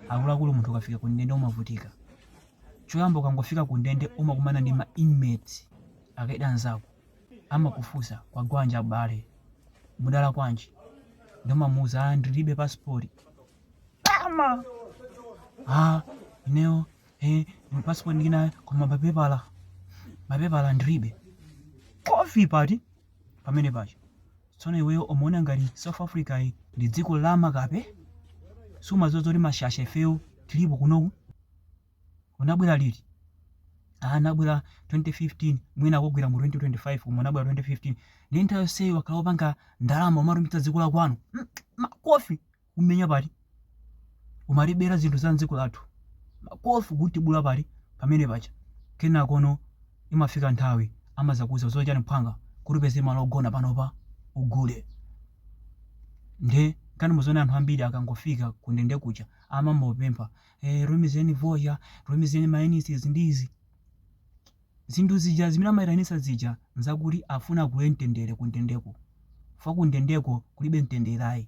Akuluakulu munthu ukafika ku ndende umavutika. Choyamba ukangofika ku ndende umakumana ndi ma inmates akaidi anzako. Amakufunsa kwagwanji m'bale? Mudalakwa chani? Nde umamuuza ah ndilibe passport. Ama! Ah ineyo eh ndi passport ndili nayo koma mapepala mapepala ndilibe. Makofi pati? pamene paja tsono iweyo umaona ngati south africa iyi ndi dziko la makape sumadziwa zoti mashasha ifeyo tilipo kunoku unabwera liti Ah, anabwera 2015 mwina akugwira mu 2025 koma anabwera 2015 ndi nthawi yonseyi wakhala opanga ndalama umatumikira dziko la kwanu Mm, makofi kumenya pati umatibera zinthu za mdziko lathu makofi kutibula pati pamene paja kenakono imafika nthawi amazakuza zochita chani phwanga kuti upeze malo ogona panopa ugule nde kani muziona anthu ambiri akangofika kundende kuja amangopempha eh, tumizeni vocha tumizeni maenisis ndizi zinthu zija zimene amayitanisa zija nzakuti afuna agule mtendere kundendeko fa kundendeko kulibe mtendere ayi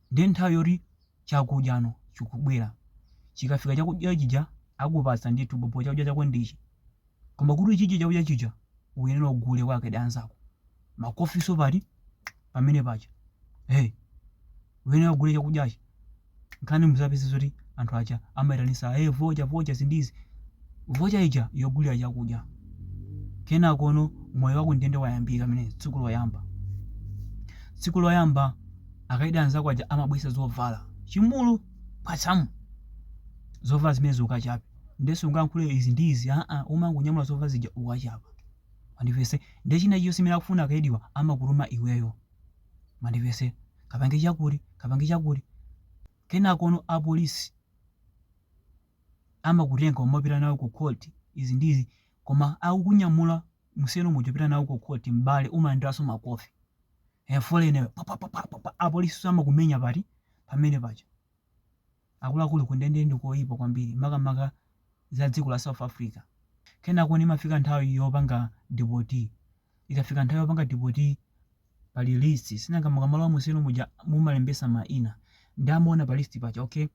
Ndiye nthawi yoti chakudyano chikubwera. Chikafika chakudya chija akupatsa ndithu bhobho chakudya chako ndi ichi. Koma kuti uchidye chakudya chija uyenera ugule kwa akaidi anzako. Makofinso pati? Pamene paja. He! Uyenera ugule chakudyachi. Nde kani muzapeza zoti anthu aja amaitanitsa hey vocha vocha izi ndi izi. Vocha ija yogulira chakudya. Kenakono moyo wa kundende wayambika pamene tsiku loyamba. Tsiku loyamba Akaidi anzako aja amabwesa zovala chimulu patsa mu zovala zimenezo ukachape nde sungayankhule izi ndi izi aa umangonyamula zovala zija ukachapa mwandimvetsa nde china chilichonse chimene akufuna akaidiwa amakutuma iweyo mwandimvetsa kapange chakuti kapange chakuti kenakono apolisi amakutenga kumapita nawe ku court izi ndi izi koma akukunyamula mu cell muja kupita nawe ku court m'bale umalandiraso makofi eh, foreigner pa pa pa pa pa pa apolisi amakumenya pati pamene paja akuluakulu kundende ndi koyipa kwambiri makamaka za dziko la south africa kenakono imafika nthawi yopanga deport ikafika nthawi yopanga deport pali list sinanga mukamalowa mu cell muja mumalembesa maina nde amaona pa list paja okay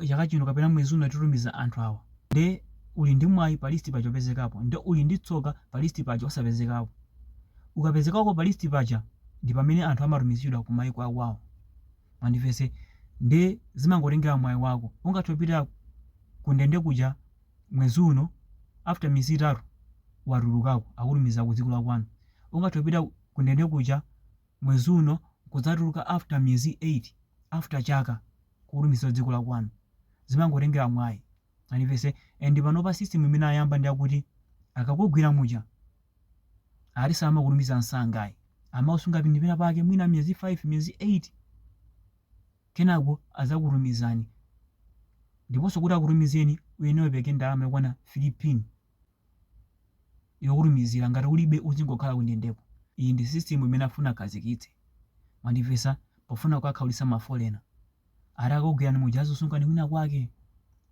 chaka chino kapena mwezi uno titumiza anthu awa nde uli ndi mwayi pa list paja opezekapo nde uli ndi tsoka pa list paja osapezekapo ukapezekako pa list paja ndi pamene anthu amatumizidwa ku maiko akwawo mwandimvetsa nde zimangotengera mwayi wako ungathe kupita ku ndende kuja mwezi uno after miyezi itatu watulukako akutumiza ku dziko la kwanu ungathe kupita ku ndende kuja mwezi uno nkudzatuluka after miyezi 8 after chaka kukutumiza ku dziko lakwanu zimangotengera mwayi mwandimvetsa and panopa system imene ayamba ndiyakuti akakugwira muja ati samakutumiza nsanga ayi amakusunga pena pake mwina miyezi 5 miyezi 8 kenako azakutumizani ndiponso kuti akutumizeni uyenera upeze ndalama yokwana 3 pin yotumizira ngati ulibe uzingokhala kundendeko iyi ndi system imene afuna akhazikitse mwandimvetsa pofuna kukhaulitsa ma foreigner ati akakugwirani muja azikusungani kwina kwake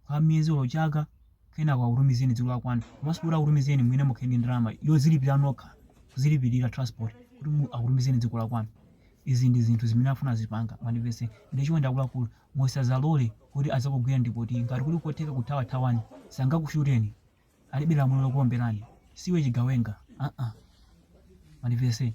kwa miyezi olo chaka kenako akutumizeni dziko lakwanu komanso kuti akutumizeni mwina mukhale ndi ndalama yozilipira nokha kuzilipirira transport kuti mu- akutumizeni dziko lakwanu izi ndi zinthu zimene afuna azipanga mwandimvetsa nde chonde akuluakulu musazalole kuti azakugwireni police ngati kuli kotheka kuthawa thawani sangakushuteni alibe lamulo lokuomberani siwe chigawenga aa mandivese